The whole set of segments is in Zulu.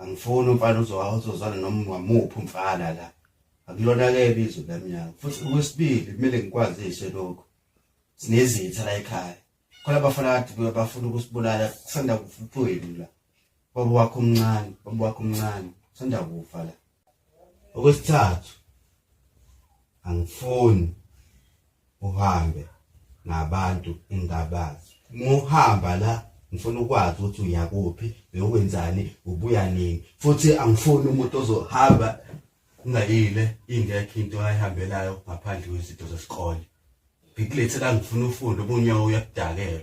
angifuni umfana uzozwana noma muphi umfana la akulona ke ibizo lamnyaka futhi okwesibili kumele ngikwazise lokho sinezitha la ekhaya khona abafana kade bafuna ukusibulala kusanda kufuthweni la baba wakho omncane baba wakho omncane kusanda kufa la okwesithathu angifuni uhambe nabantu engabazi muhamba la ngifuna ukwazi ukuthi uyakuphi beyokwenzani ubuya nini futhi angifuni umuntu ozohamba ngayile ingekho into ayihambelayo ngaphandle kwezinto zesikole ngikulethe la ngifuna ufunde obunyawo uyakudakelwa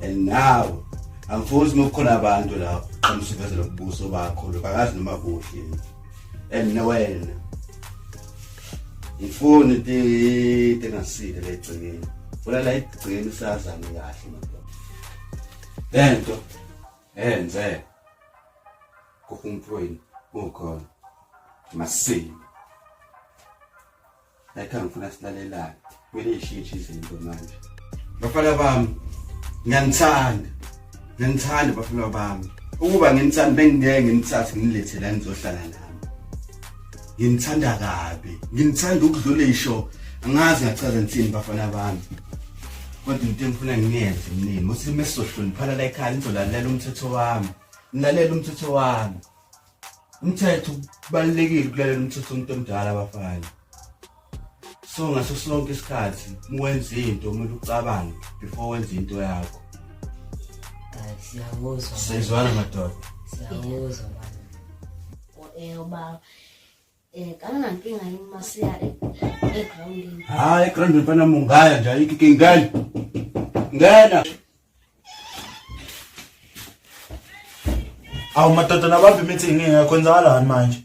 and now angifuni uma kukhona abantu lapho qhamisa uvezela ubuso bakho lokho akazi noma kuhle and nowena ngifuni into engasile le gcekeni funa la igcekeni sazane kahle madoda lento enze kuhumphweni ukhona masini Layikhaya ngifuna silalelane. Kumele ishintshe izinto manje. Bafana bami, ngiyanithanda. Ngiyanithanda bafana bami. Ukuba nginithanda bengingeke nginithathe nginilethe la nizohlala nami. Nginithanda kabi. Nginithanda ukudlula isho. Angazi ngachaza ngithini bafana bami. Kodwa into engifuna ngiyenze mnini, musilime sizohloniphala la ekhaya nizolalela umthetho wami. Nilalela umthetho wami. umthetho kubalulekile ukulalela umthetho umuntu omdala abafana so ngaso sonke isikhathi mwenze into kumele ucabange before wenze into yakho siyakuzwa siyizwana madoda siyakuzwa manje eh, uba Eh kangankinga yini masiya egroundini. Hayi egroundini mfana mungaya nje ayikho inkinga. Ngena. Awu madoda nabambi imithi ngeke kwenzakalani manje?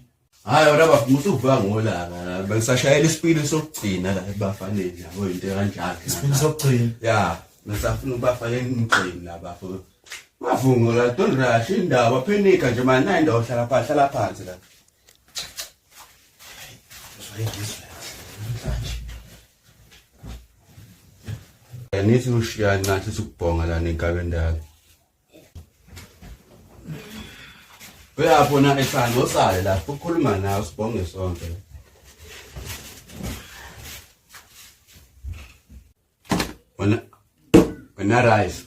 Hayi wena bafuna ukuthi uvuka ngolaka la bengisashayela isipili sokugcina la ebafaneni yabo into kanjalo. Isipili sokugcina. Ya, ngisafuna ubafake emgqini la bafo. Bavungola don't rush indaba phenika nje manje nayi ndawo hlala phansi hlala phansi la. Angithi ushiyani ngathi sikubhonga lana enkabeni ndalo. Uyapho na ehlanga osale lapho ukhuluma nawe sibonge sonke. wena wena rice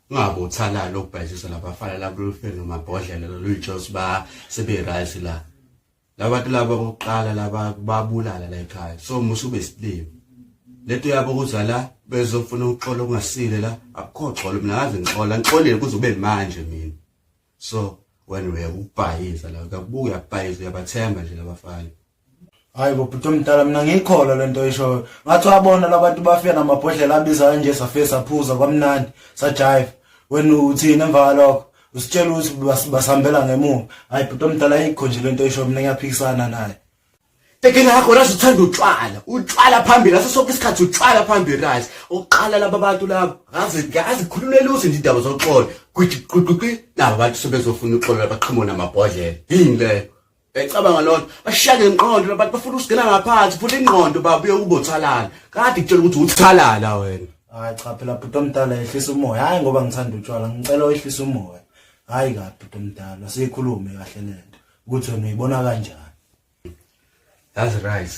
ungabe uthalala ukubhajisa labafana labulufeni nomabhodlela loluyijos ba sebe rice la labantu laba kokuqala laba babulala la ekhaya so musu besilima lento yabo kuzala bezofuna ukuxola okungasile la akukho xolo mina ngaze ngixola ngixolile kuze ube manje mina so wena uyakubhayiza la uyakubuka uyabhayiza uyabathemba nje labafana hayi bobhuti omdala mina ngiyikholwa le nto ishoyo ngathi wabona labantu bafika namabhodlela abiza kanje safe saphuza kwamnandi sajive wena uthini emva kwalokho usitshela ukuthi basihambela ngemuva hayi bhuti omdala ayikho nje le nto ishoyo mina ngiyaphikisana naye Tekela yakho razi uthanda utshwala utshwala phambili aso sonke isikhathi utshwala phambili razi uqala laba bantu laba ngazi ngazi khulumela uze nje indaba zoxolo kuthi ququqi laba bantu sebezofuna uxolo labaqhimona amabhodlela yini leyo Ecabanga lona bashiyane inqondo labantu bafuna usigena ngaphansi futhi inqondo babuye ukubothalana kade kutshela ukuthi uthalala wena hayi cha phela bhuti omdala ehlisa umoya hayi ngoba ngithanda utshwala ngicela wehlisa umoya hayi kabi bhuti omdala siyikhulume kahle lento ukuthi wena uyibona kanjani that's right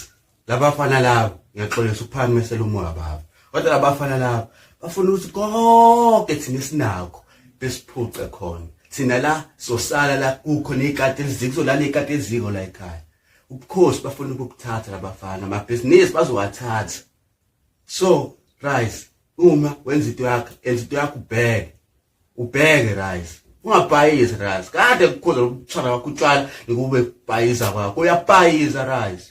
labafana labo ngiyaxolisa ukuphana mesela umoya baba kodwa labafana labo bafuna ukuthi konke thina sinakho besiphuce khona thina la sosala la kukho nezikati eziko kuzolala izikati eziko la ekhaya ubukhosi bafuna ukukuthatha labafana amabhizinisi bazowathatha so rise uma wenza into yakho enza into yakho ubheke ubheke Ralph ungabhayizi Ralph kade kukhoza lokuthanda kwakho utshwala ngikube bhayiza kwakho uyabhayiza Ralph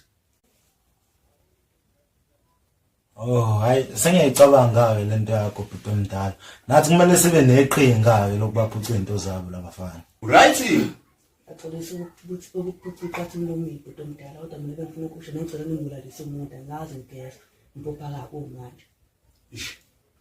Oh hayi sengiyicabanga-ke le nto yakho bhuti omdala nathi kumele sibe neqhinga-ke lokubaphuca iy'nto zabo labafana right axolisa ukuphuca iqatha umlomile bhuti omdala kodwa mina bengifuna ukusho nengicela ningibulalise umuntu angazi ngigeza mpopha kabi kumanje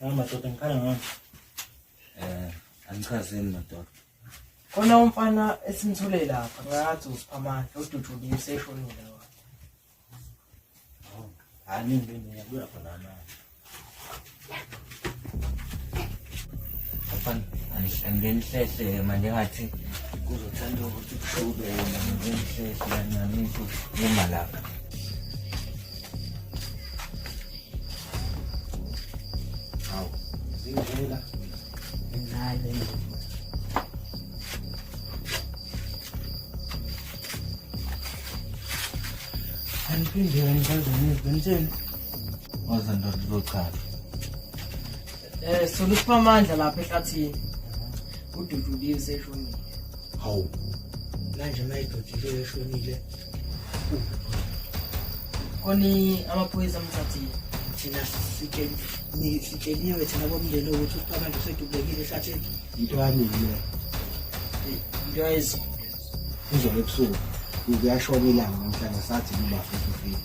madoda ngikhala ngani um angichazeni madoda khona umfana esimthole lapha ngathi usiphamandla odutshulile useshonile wa hayi mina ngiyabuya khona manje angingeni hlehle manje ngathi kuzothanda ukuthi kushube yena ngingeni hlehle kancane ukuthi ngima lapha hawu zingela encane angiphinde kanibazanezi benzeni Waza ndoda uzochaza. Eh solo siphamandla lapha ehlathini. Ududuliwe seshonile. Hawu. Manje mayiduduliwe eshonile. Koni amaphoyisa amthathile. Thina sitsheliwe sitsheliwe thina bomndeni ukuthi uSiphamandla usedubekile ehlathini. Into yami le. Into yami izolo ebusuku kuyashona ilanga namhlanje sathi kuba futhi ufile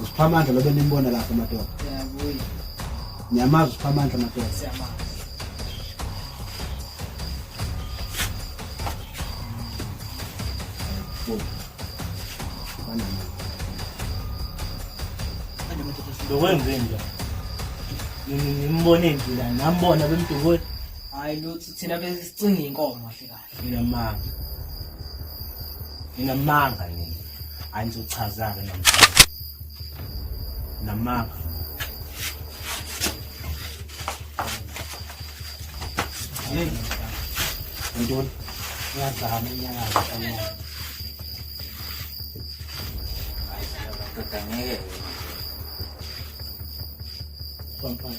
usiphamandla lobe nimbona lapho amadoda niyamazi usiphamandla amadoda lokwenzenja ngimbone njila nambona bemdukweni hayi luthi thina besicingile inkomo hle Nginamanga. Nginamanga yini? Angizochaza ke namhlanje. Namanga. Hey. Ndon. Ngazama inyanga yami. Ay, ngeke. Pampang.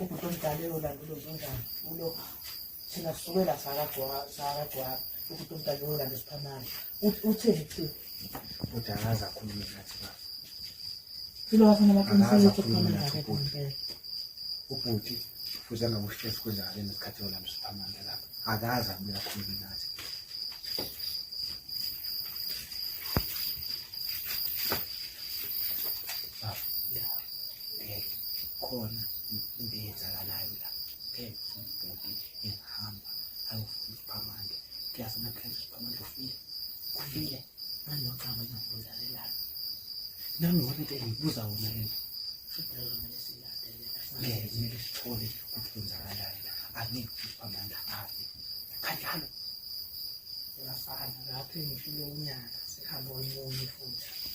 ubhuti omdala eyolanda ulozonjani ulo thina sisukela sakagcwaba ubhuti omdala eyolanda esiphamana utheni thi bhuti akaze akhulume nathi ba filo wafuna baqinisele ukuthi ukhulume nathi ubhuti ubhuti fuze angakushesi kwenzakale nesikhathi yolanda esiphamana lapha akaze abuye akhulume nathi okay khona into eyenzakalayo la okay umbhudi ehamba ayofuna isiphamandla kuyafuna phela isiphamandla ufile ufile nanocaba engabuza lelana nami ngona into engibuza wona lena ngeke kumele sithole ukuthi kwenzakalani angeke isiphamandla afe kanjalo uyafana lapho engishilo unyaka sihamba omunye futhi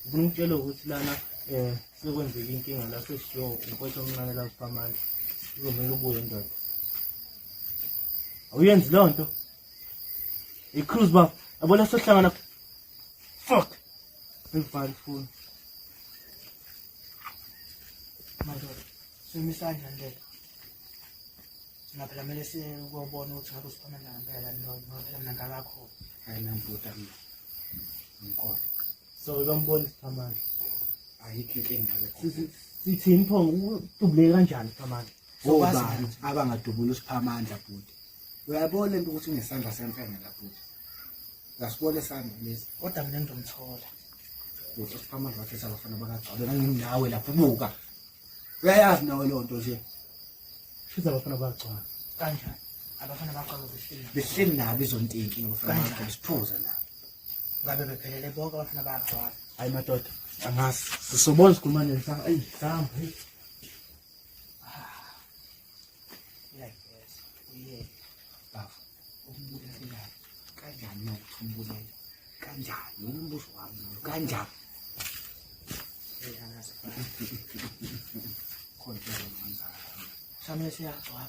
Ngifuna ukutshela ukuthi lana eh sekwenzeka inkinga la seshiyo umfowethu omncane la kuphamandla. Kuzomela ubuye ndoda. Awuyenzi leyo nto. Icruise baba, abona sohlangana. Fuck. Ngivale ifoni. Madoda, simisana nje. Ngaphela mele sikubona ukuthi ngabe usiphana nangempela noma ngaphela mnangakho. Hayi nambuta mina. Ngikholwa. So uzombona isiphamandla. Ayikho inkinga lokho. Sithini pho utubuleke kanjani isiphamandla? Obani abangadubula isiphamandla bhuti. Uyabona into ukuthi unesandla semfene la bhuti. Ngasibona isandla lesi. Kodwa mina ngizomthola. Bhuti isiphamandla wakhe sabafana bakagcwale nanginawe lapho buka. Uyayazi nawe leyo nto nje. Shuthi abafana bakagcwala. Kanjani? Abafana bakagcwala behleli. Behleli nabo izonteki ngabafana bakagcwala siphuza nabo. ngabe bephelele bonke abafana bayagcwala hayi madoda angazi sisobona sikhuluma nini sanga eyi sihamba eyi kanjani khona siyagcwala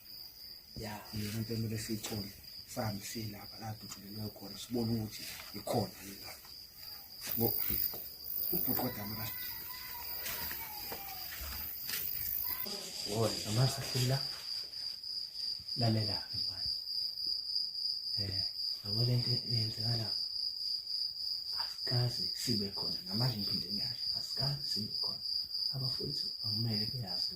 ya yona into emele siyithole sihambe siye lapha la dutshulelwe khona sibone ukuthi ikhona yini la ngo ubhuti kodwa mara wona amasa hlula lalela mfana eh yabo lento yenzeka la asikaze sibe khona namanje ngiphinde ngiyasho asikaze sibe khona abafowethu akumele beyazi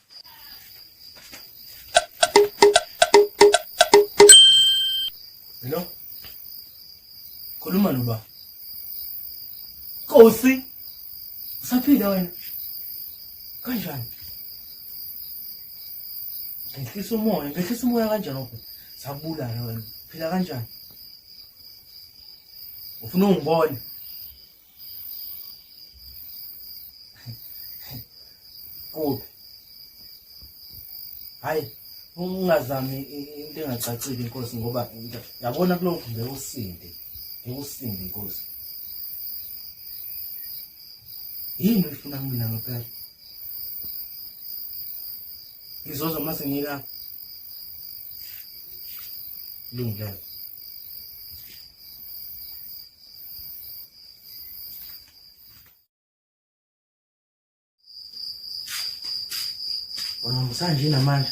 Hello? Khuluma noba. Kosi. Usaphila wena? Kanjani? Ngehlisa umoya, ngehlisa umoya kanjani lokho? Sabulala wena. Phila kanjani? Ufuna ungibone? kuphi hayi ungazami into engacacile inkosi ngoba yabona kulokhu nje usinde ngikusinde inkosi yini uyifuna kumina ngempela ngizoza uma sengika lungelo Ungamusanje namanje.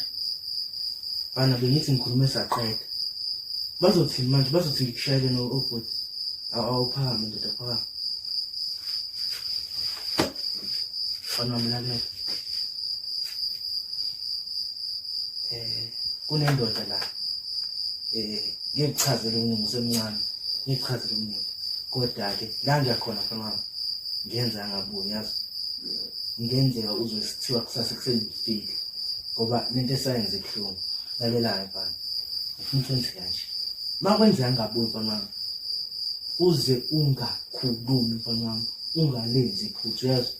Bana bengithi ngikhulume saqeda. Bazothi manje bazothi ngikushayele no obhuti. Awuphakame ndoda phakama. Bana mlalele. Eh kunendoda la. eh ngichazele umnini usemncane ngichazele umnini kodwa ke la ngiyakhona mfana wami ngenza ngaboni yazi ngenzeka uzosithiwa kusasa ekuseni ngifike ngoba lento esayenze ibuhlungu lalelayo mfana ngifuna ukwenze kanje uma kwenzeka ngaboni mfana wami uze ungakhulumi mfana wami ungalenzi iphutha uyazi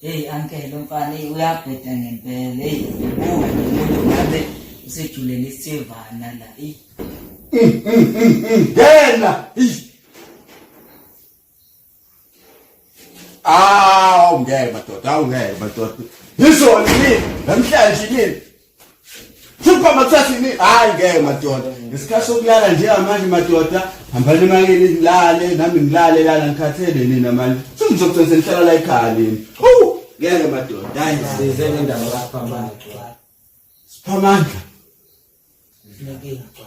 Hey uncle umfana hey uyabheda ngempela hey ubuka umuntu ngabe usejulele isivana la hey ngena Ah, ungeke madoda, ungeke madoda. Yizona yini? Namhlanje yini? Phupha mathatha ini hayi ngeke madoda. Ngesikhathi sokulala njengamanje madoda hambani emakini ngilale nami ngilale lana ngikhathele nina manje. Sengizogcina ngihlala la ekhaya nini. Hawu ngeke madoda. Hayi size ngendawo lapha manje. Siphamandla. Ngeke ngicwa.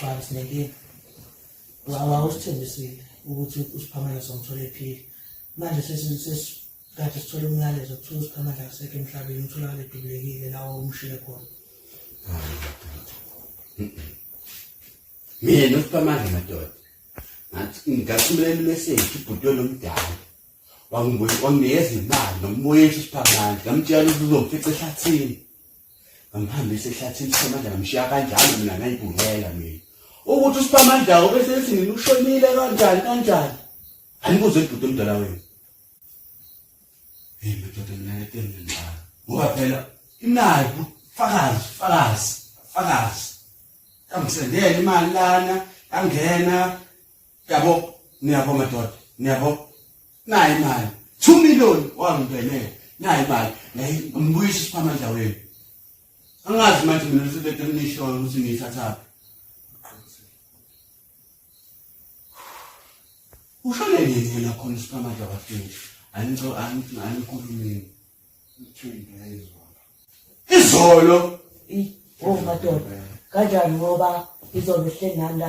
Cha sinenkinga. Wawa usithembisile ukuthi uSiphamandla somthola ephila. Manje sesi- sesi- kade sithole umyalezo kuthiwa uSiphamandla akasekho emhlabeni utholakale edubulekile lawa umshile khona. mina usiphamandla madoda ngathi ngathumelela imeseji ibhuti olomdala wanginikeza imali ngamuboyisa usiphamandla ngamtshela ukuthi uzomfica ehlathini ngamhambisa ehlathini siphamandla ngamshiya kanjalo mina ngayibungela mina ukuthi usiphamandla obese ethi mina ushonile kanjani kanjani anikuze ibhuti omdala wenu hey madoda mina ngedeni ngibhala ngoba phela imali fakazi fakazi fakazi kangisendele imali lana yangena yabo niyabo madoda niyabo nayi imali 2 million wangibhenela nayi imali nayi ngibuyisa isiphamandla wenu angazi manje mina ngisebenza emishoyo ukuthi ngiyithatha ushone nini yena khona isiphamandla wafini angico angikhulumini izolo oh madoda kanjani ngoba izolo hlenganda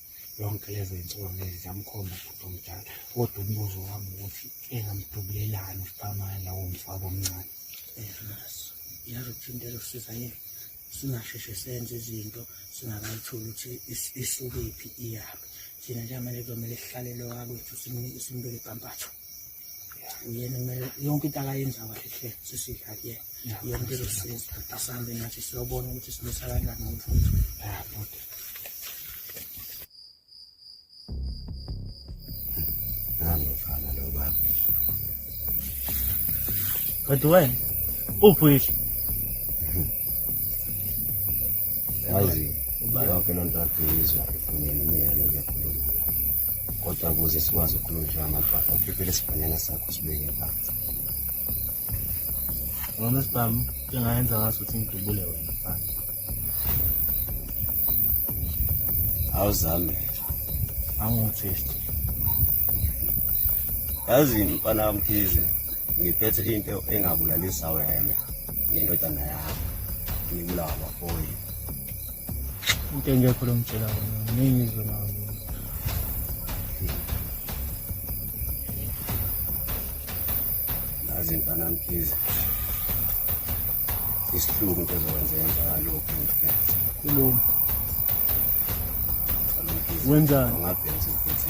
yonke lezo zinsuku lezi ziyamkhomba ubhuti omdala kodwa umbuzo wami ukuthi engamdubulelani usiqamane lawo mfako omncane enaso yazi ukuthinta elosiza yena singasheshe senze izinto singakayitholi ukuthi isukephi iyaphi thina njengamanje kuzomele sihlale lowakwethu simbeke ibhampatho uyena kumele yonke into akayenza kahle hle sisidla kuyena yena into ezosiza asambe nathi siyobona ukuthi simisa kanjani ngomfutho nami mfana lo baba kodwa wena uphi yazi yonke loo nto aduyizwa efuneni imiyalo ngiyakhuluma kodwa ukuze sikwazi ukukhuluma nje amagwada ukhiphele isibhanyana sakho sibeke phansi ngoma sibhamu njengayenza ngaso ukuthi ngidubule wena phansi awuzame angumthisti yazi mfana wamkhize ngiphethe into engabulalisa wena nendodana yakho ngibulawa bafowethu into engekho lo mtshela wena ningi izwe nawo nazi mfana mkhize isihlungu into ezokwenzeka ngalokhu ngiphethe kuloma wenzani ngabhenza ukuthi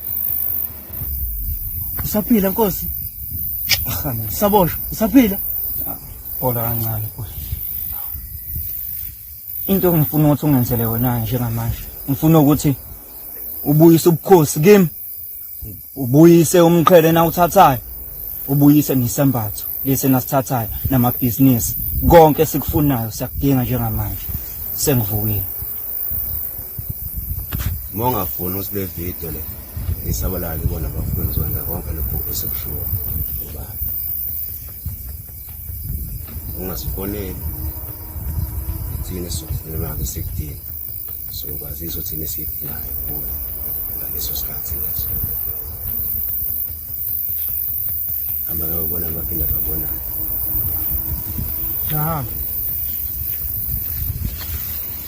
Usaphila Nkosi? Ahamba. Saboshwa, usaphila? Hola kancane Nkosi. Into engifuna ukuthi ungenzele yona njengamanje. Ngifuna ukuthi ubuyise ubukhosi kimi. Ubuyise umqhele na uthathayo. Ubuyise nisembatho lesi nasithathayo namabhizinisi. Konke sikufunayo siyakudinga njengamanje. Sengivukile. uma ungafuni ukuthi le video le isabalale bona bafuna ukuzokwenza konke lokhu esekushiwo ngoba ungasifoneli thina sokufunelake sikudinga so kwazisa ukuthi thina sikudingayo kuyo ngaleso sikhathi leso hamba ngayobona baphinda babona Aha.